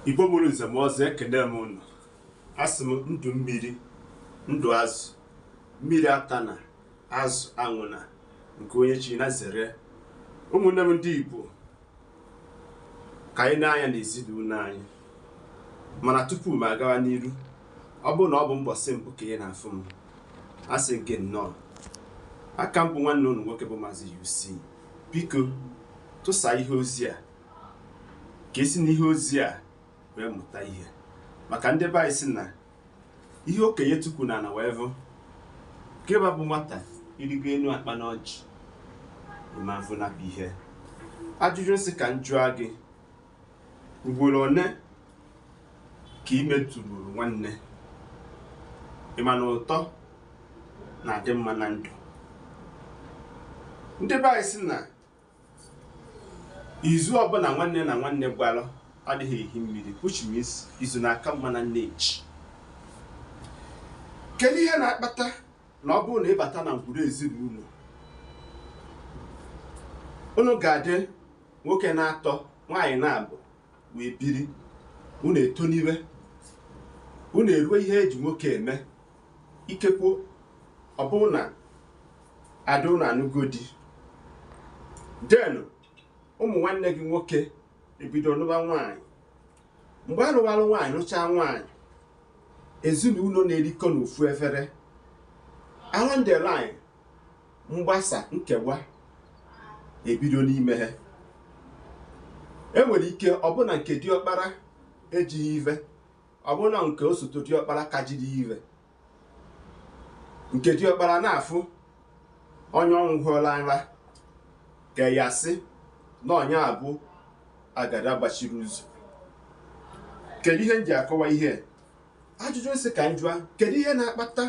igbo mụrụ nze mụọ ọzọ ekene m unu asị m ndụ mmiri ndụ azụ mmiri atana azụ anwụna nke onye chi nya zere ụmụnne m ndị igbo ka anyị na-anya na ezinụlọ anyị mana tupu m agawa n'iru ọ bụrụ na ọ bụ mbọsị mbụ ka ị na-afụ m asị gị nnọọ aka m bụ nwanne unu nwoke bụ maazị UC Biko, tụsaa ihe ozi a ka e si n'ihe ozi a wee mụta ihe. Maka ndị be anyị si na ihe okenye tukwu n'ana wee vụ, gịwa bụ nwata i rigo enu akpụ na ọjị, ị ma avụ nya bụ ihe. Ajụjụ m sị ka m jụọ gị, Ugboro one ka i metụruru nwanne? Ị ma na ụtọ na-adị mma na ndụ? Ndị be anyị sị na izu ọbụla nwanne na nwanne gbara adịghị ehi mmiri which means izu na-aka mma na nne ji. Kedu ihe na-akpata na ọ bụrụ na ị bata na ngwuru ezinụlọ unu ga-adị Nwoke n'atọ nwaanyị n'abụọ wee biri, unu etoniwe, unu eruo ihe e ji nwoke eme, ikekwe ọ bụrụ na ada unu anụgo di, then ụmụ nwanne gị nwoke ebido nụba nwaanyị. Mgbe a nụwalụ nwaanyị nụchaa nwaanyị, ezinụlọ na-erikọ n'ofu efere. Along the line, mgbasa nkewa ebido n'ime ha e nwere ike ọ bụrụ na nke diọkpara ejighị ive ọ bụrụ na nke osote diọkpara ka jiri ive nke diọkpara na-afụ onye ọnwụ hụla nra ka ya sị na onye a bụ agada gbachiri ụzọ kedu ihe m ji akọwa ihe a? ajụjụ m sị ka m jụa kedu ihe na-akpata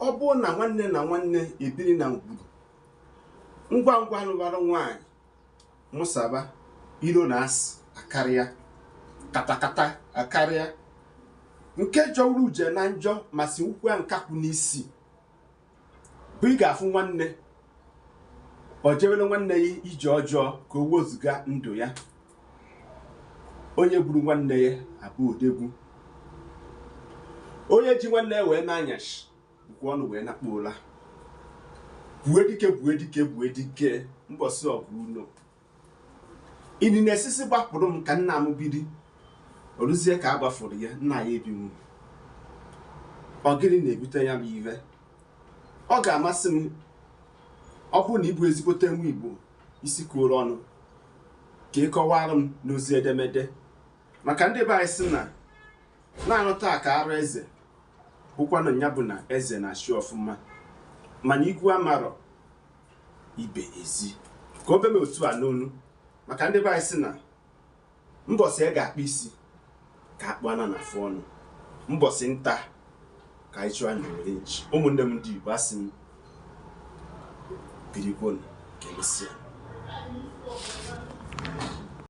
ọ bụrụ na nwanne na nwanne ebiri na ngwuru ngwa ngwa a lụbara nwaanyị mụsaba iro na asị akarịa katakata akarịa nke jọwuru udene na njọ ma siwukwuo nkakwụ n'isi bụ ị ga-afụ nwanne ọ jewere nwanne ya ije ọjọọ ka o wezụga ndụ ya onye gburu nwanne ya abụ odogwu onye ji nwanne ya wee na-anya isi bukwa ọnụ wee nakpuo ụla gbue dike gbue dike gbue dike mbọsị ọgụ ụlọ ịdị na-esisi gbapụrụ m ka nna m biri o luzie ka a gbafụrụ ya nna ya ebinwu ọ gịnị na-ebute ya bụ ive ọ ga-amasị m ọ bụrụ na ị bụ ezigbote nwa igbo isi kwuoro ọnụ ka ị kọwara m n'ozi edemede maka ndị be anyị si na na-anọta aka arụ eze bụkwanụ ya bụ na eze na-achị ọfụma mana ikwu amarọ ibe ezi ka o be m otu a n'ọnụ maka ndị be anyị si na Mbọsị a ga-akpụ isi ka akpụ ana na afụ ọnụ. Mbọsị nta ka anyị chụọ n'owere nchi. Ụmụnne m ndị Igbo asị m birikwonu ka emesịa.